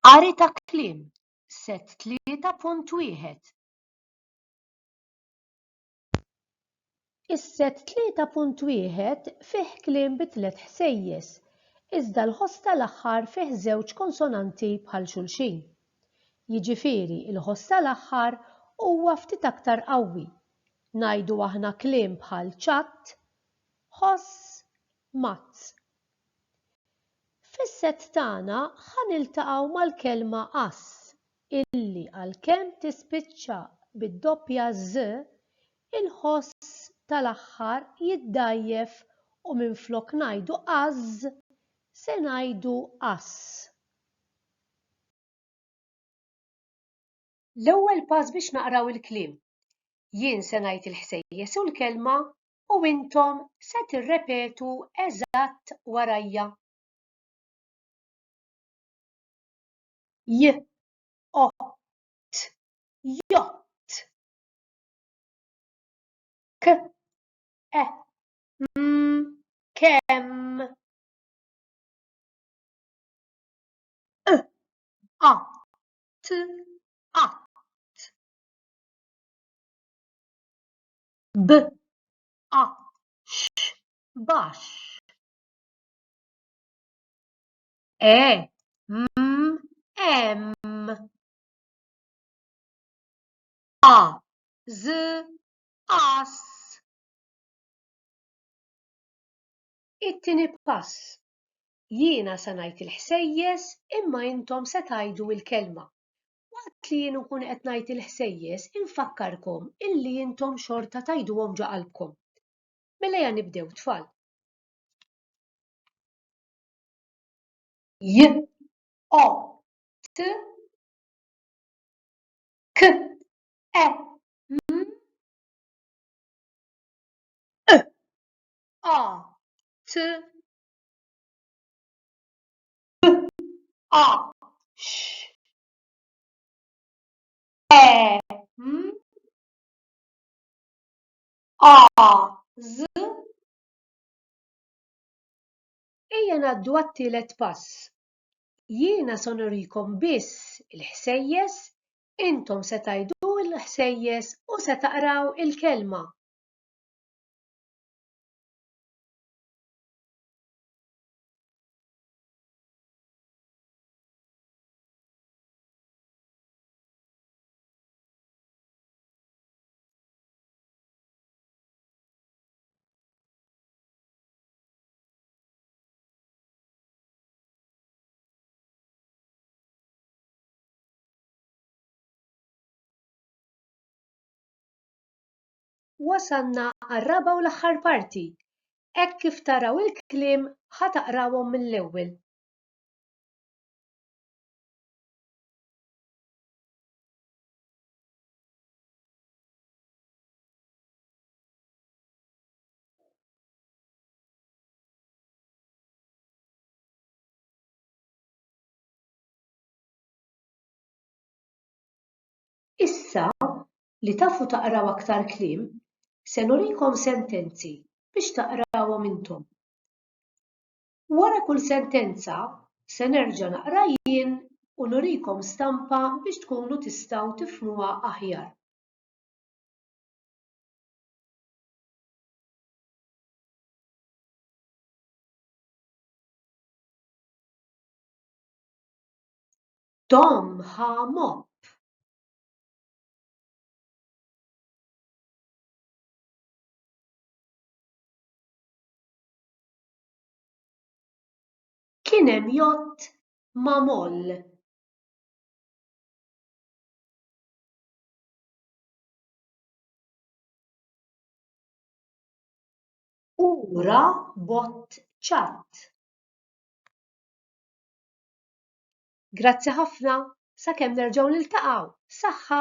Qari ta' kliem, Set 3.1. Is-Set 3.1 fih kliem bi tliet ħsejjes, iżda l-ħoss tal-aħħar fih żewġ konsonanti bħal xulxin. Jiġifieri l-ħoss tal-aħħar huwa ftit aktar qawwi. Ngħidu aħna kliem bħal ċatt, ħoss, mazz. Fis-sett tagħna ħa niltaqgħu mal-kelma għass illi għalkemm tispiċċa bid-doppja ż, il-ħoss tal-aħħar jiddgħajjef u minflok ngħidu għażż se ngħidu għass. L-ewwel pass biex naqraw il-kliem. Jien se ngħid il-ħsejjes u l-kelma u intom se tirrepetu eżatt warajja. J, o, t, jott. K, e, m, kemm. E, a, t, a. b a x bax e m em a z as It-tieni pass. Jiena se ngħid il-ħsejjes imma intom se tgħidu l-kelma. Waqt li jien nkun qed ngħid il-ħsejjes, infakkarkom illi intom xorta tgħiduhom ġo qalbkom. Mela ejja nibdew, tfal. J, O, T, K, E, M, E, A, T, Ejja ngħaddu għat-tielet pass. Jiena se nurikom biss il-ħsejjes, intom se tgħidu l-ħsejjes u se taqraw il-kelma. Wasalna għar-raba' u l-aħħar parti, Hekk kif taraw il-kliem ħa taqrawhom mill-ewwel. Issa li tafu taqraw aktar kliem, se nurikom sentenzi biex taqrawhom intom. Wara kull sentenza se nerġa' naqra jien u nurikom stampa biex tkunu tistgħu tifhmuha aħjar. Tom ħa mopp. Kien hemm jott ma' moll. U ra bott ċatt. Grazzi ħafna, sakemm nerġgħu niltaqgħu, saħħa!